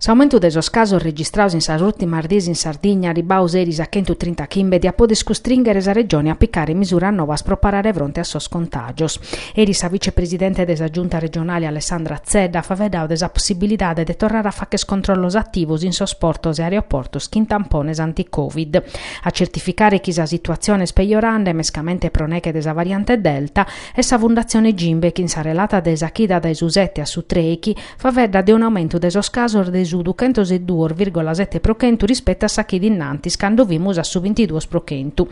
S'aumentu de sos casos registrados in sas ùrtimas dies in Sardigna, arribados eris a chentu trinta chimbe, diat poder custrìnghere sa Regione a apicare misuras novas pro parare fronte a sos contàgios. Eris sa vicepresidente de sa Giunta regionale Alessandra Zedda at faeddadu de sa possibilidade de torrare a fagher controllos ativos in sos portos e aeroportos chin tampones anticovid. A tzertificare chi sa situatzione est pejorende, mescamente pro neghe de sa variante Delta, est sa Fundatzione Gimbe chin sa relata de sa chida dae su sete a su trèighi, faedda de un'aumentu de sos casos de su duchentos e duos virgola sete pro chentu rispettu a sa chida innantis, cando fimus a su bintiduos pro chentu.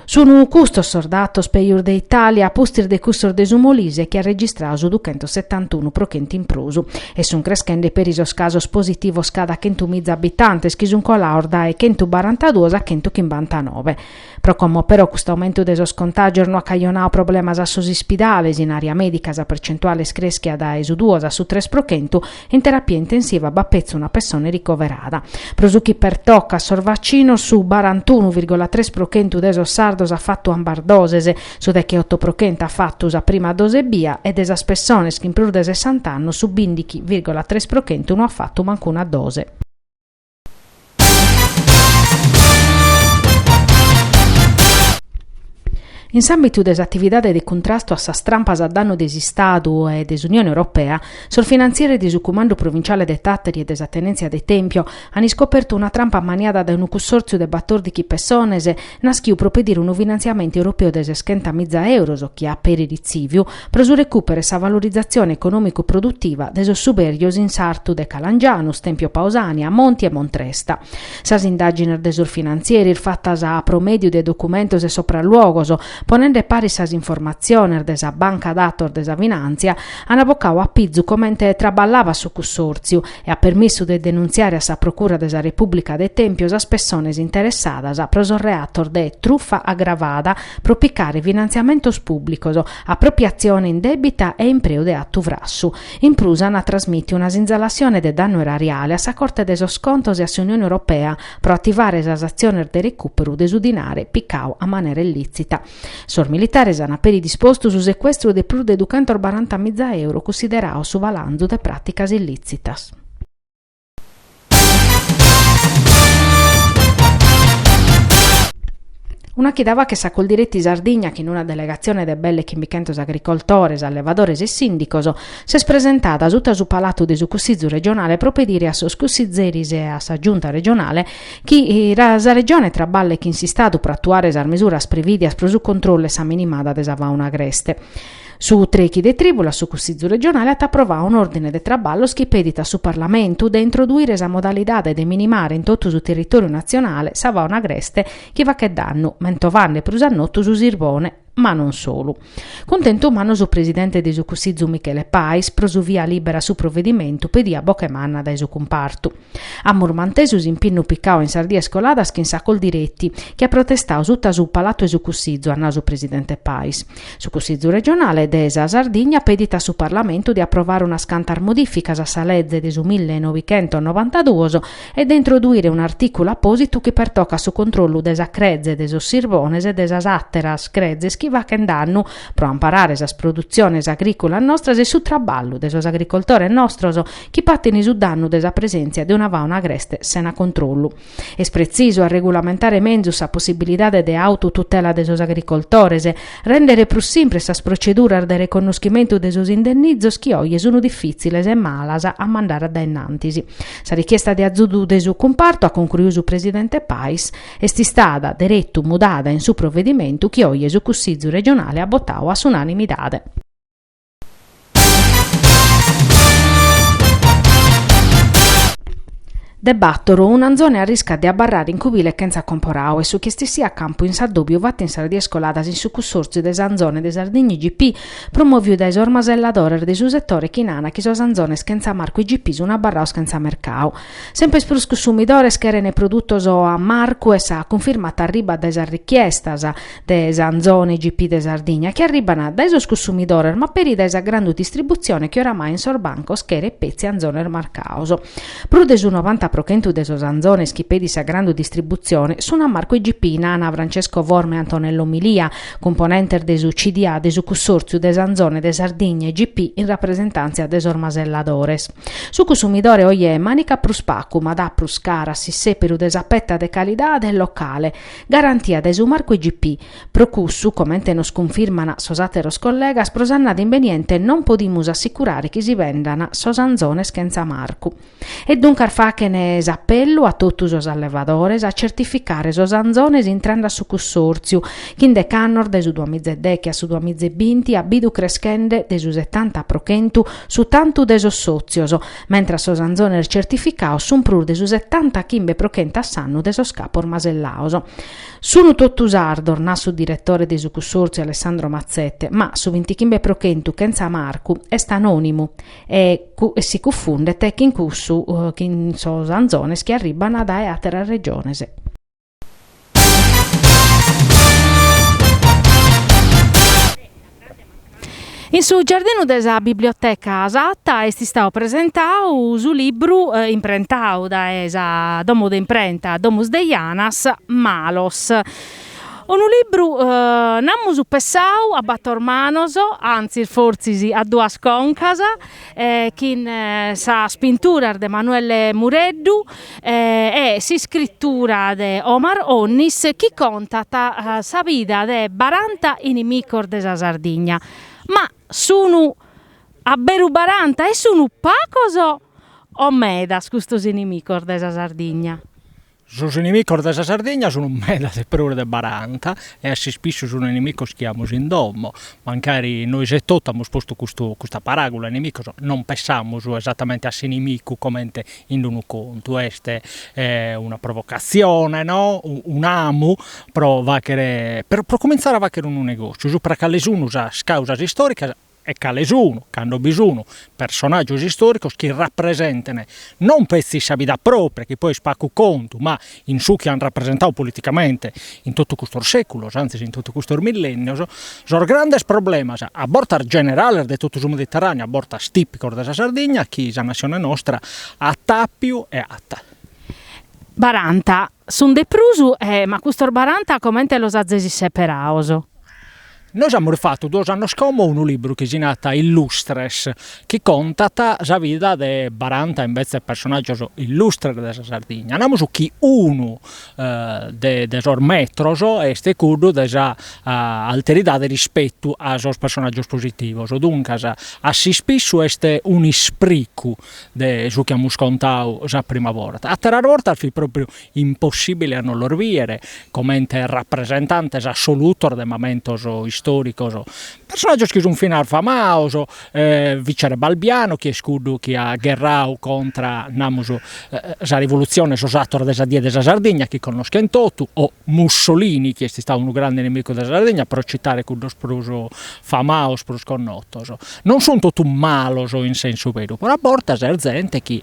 Sun custos sos datos pejos de Itàlia, a pustis de cussos de su Molise, chi at registradu su duchentos setantunu pro chentu in prus. E sun creschende peri sos casos positivos cada chentu miza abitantes, chi sun colados dae chentu barantaduos a chentu chimbantanove. Pro como però custu aumentu de sos contàgios no at cajonadu problemas a sos ispidales, in àrea mèdica sa percentuale est crèschia dae su duos a su tres pro chentu in terapia intensiva b'at petzi una pessone ricoverada. Pro su chi pertocat sos vacinos, su barantunu virgola tres pro chentu de sos sardos at fatu ambas doses, su deghe oto pro chentu at fatu sa prima dose ebbia e de sas pessones chin prus de sessant'annos su bindighi virgola tres pro chentu no at fatu mancuna dose. In s'àmbitu de s'atividade de cuntrastu a sas trampas a dannu de s'Istadu e de s'Unione Europea, sos finantzieris de su Cumandu Provinciale de Tàteri e de sa Tenèntzia de Tèmpio ant iscopertu una trampa ammaniada dae unu cussòrtziu de batòrdighi pessones, naschiu pro pedire unu finantziamentu europeu de seschentas miza euros chi at peri ritzìviu, pro su recùperu e sa valorizatzione econòmicu-produtiva de sos subèrgios in sartu de Calangianus, Tempio Pausània, Monti e Montresta. Sas indàgines de sos finantzieris fatas pro mèdiu de documentos e sopralluogos, ponende paris sas informatziones de sa Banca Datos de sa Finàntzia, an abocadu a pizu comente traballavat su cussòrtziu, e ant permissu de denuntziare a sa Procura de sa Repùblica de Tèmpiu sas pessones interessadas pro sos reatos de trufa agravada, pro picare finantziamentos pùblicos, apropiatzione indèbita e impreu de atu frassu. In prus ant trasmìtiu una sinzalassione de dannu erariale a sa Corte de sos Contos e a s'Unione Europea pro ativare sas atziones de recùperu de su dinare picadu a manera illìtzita. Sos militares ant peri dispostu su secuestru de prus de duchentos baranta miza euro cussiderados su balanzu de pràticas illìtzitas. Una chida faghet, sa Coldiretti Sardigna chin una delegatzione de belle chimbichentos agricoltores, allevadores e sìndicos s'est presentada suta su palatu de su Cussizu regionale pro pedire a sos cussizeris e a sa Giunta regionale Chi sa Regione traballet chin s'Istadu pro atuare sas mesuras prevìdias pro su controllu e sa minimada de sa fàuna agreste. Su trechi de trìbula su Cussìgiu Regionale at aprovadu un'òrdine de traballos chi pedit a su Parlamentu de introduire sa modalidade de minimare in totu su territòriu natzionale sa fàuna agreste chi faghet dannu, mentovende prus a notu su sirbone. ma non solu. Cuntentu mannu su presidente de su Cussizu Michele Pais pro su via lìbera a su provedimentu pediu a boche manna dae su cumpartu. Amus mantesu s'impinnu picadu in sas dies coladas chin sa Coldiretti, chi at protestadu suta su Palatu 'e su Cussizu, at nadu su presidente Pais. Su Cussizu regionale de sa Sardigna pedit a su Parlamentu de aprovare unas cantas modificas a sa leze de su mille e novi chentos e novantaduos e de introduire un'artìculu apòsitu chi pertocat su controllu de sa creze, de sos sirbones e de sas àteras crezes chi faghent dannu, pro amparare sas produtziones agrìculas nostras e su traballu de sos agricoltores nostros chi patin su dannu de sa presèntzia de una fauna agreste sena controllu. Est pretzisu arregulamentare menzus sa possibilidade de autotutela de sos agricoltores, rèndere prus simpres sas proceduras de reconnoschimentu de sos indennizos chi oje sun difìtziles e malas a mandare a dae innantis. Sa richiesta de azudu de su cumpartu, at concruiu su presidente Pais, est istada deretu mudada in su provedimentu chi oje su Cussizu regionale at botau a s'unanimidade. De Battoro, un'anzone arriscat de abarrare in cubile chentza comporau est su chi est issiu a campu in s'addobiu fatt in sas dies coladas in su Cussòrtziu de s'Anzone de Sardigna IGP, promòviu dae sos maselladores de su setore chi nana chi sos anzones chentza marcu IGP sun abarrados chentza mercadu. Semper prus cussumidores cheren produtos a marcu e sa cunfirma arribat dae sas richiestas de s'anzone IGP de Sardigna chi arriban dae sos cussumidores ma peri dae sa grandu distributzione chi oramai in sos bancos cheret petzi anzones marcados. Prus de su novanta pro chentu de sos anzones chi pedit sa grandu distributzione sun a marcu IGP nana Francesco Forma e Antonello Milia, cumponentes de su CDA de su Cussòrtziu de s'Anzone de Sardigna IGP in rapresentàntzia de sos maselladores. Su cussumidore oje manicat prus pagu ma dat prus cara a s'issèperu de sa peta de calidade locale, garantia dae su marcu IGP. Pro cussu, comente nos cunfirman sos àteros collegas, pro s'annada imbeniente non podimus assicurare chi si vendan sos anzones chentza marcu. E duncas faghen s'apellu a totu sos allevadores a certificare sos anzones intrende a su cussòrtziu, chi in decannos dae su duamizedechi a su duamizebinti at bidu creschende de su setanta pro chentu su tantu de sos sòtzios, mentras sos anzones certificados sun prus de su setanta chimbe pro chentu a s'annu de sos capos masellados. Sun totu sardos, nat su diretore de su cussòrtziu Alessandro Mazzette, ma su vintichimbe pro chentu, chentza marcu, est anònimu. e si cufundet chin cussu chin sos anzones chi arribban dae àteras regiones. In su giardinu de sa biblioteca Satta est istadu presentadu su libru imprentadu dae sa domo de imprenta Domus de Janas, Malos, Unu libru, namus pessau a bator manos, antzis fortzis a duas concas, chin sas pinturas de Manuelle Mureddu e s'iscritura de Omar Onnis chi contat sa vida de baranta inimicos de sa Sardigna. Ma sun a beru baranta e sun pagos o medas custos inimicos de sa Sardigna? Sos inimicos de sa Sardigna sun meda de prus de baranta e a s'ispissu sun inimicos chi amus in domo. Mancari nois etotu amus postu custu custa paràgula inimicos, non pensamus esatamente a s'inimicu comente in unu contu, est una provocatzione, no, un'amu pro faghere pro comintzare a faghere unu negòtziu, supra a cale sun sas càusas istòricas e cale sun, cando bi sun, personàgios istòricos chi rapresentene non petzi sa vida pròpria, chi poi est pagu contu, ma in su chi ant rapresentadu politicamente in totu custos sèculos, antzis in totu custos millènnios, sos grandes problemas, a bortas generales de totu su Mediterràneu, a bortas tìpicos de sa Sardigna, chi sa natzione nostra at àpiu e at. Baranta, sun de prus, ma custos baranta comente los azis seperados? Nois amus fatu duos annos como unu libru chi si narat Illustres, chi contat sa vida de baranta imbetzes personàgios illustres de sa Sardigna, namus chi unu de de sos metros est cuddu de sa alteridade rispetu a sos personàgios positivos, duncas a s'ispissu est un'ispricu de su chi amus contadu sa prima borta, àteras bortas fit pròpriu impossìbile a no los bìdere comente rapresentantes assolutos de mamentos istòricos, personàgios chi sunt finas famados, Vicerè Balbiano chi est cuddu chi at gherradu contra, namus, sa rivolutzione e sos atores de sa die de sa Sardigna chi connoschent totu, o Mussolini chi est istadu unu grande inimicu de sa Sardigna, pro citare cuddos prus famados, prus connotos. Non sunt totu malos in sensu beru, però a bortas est zente chi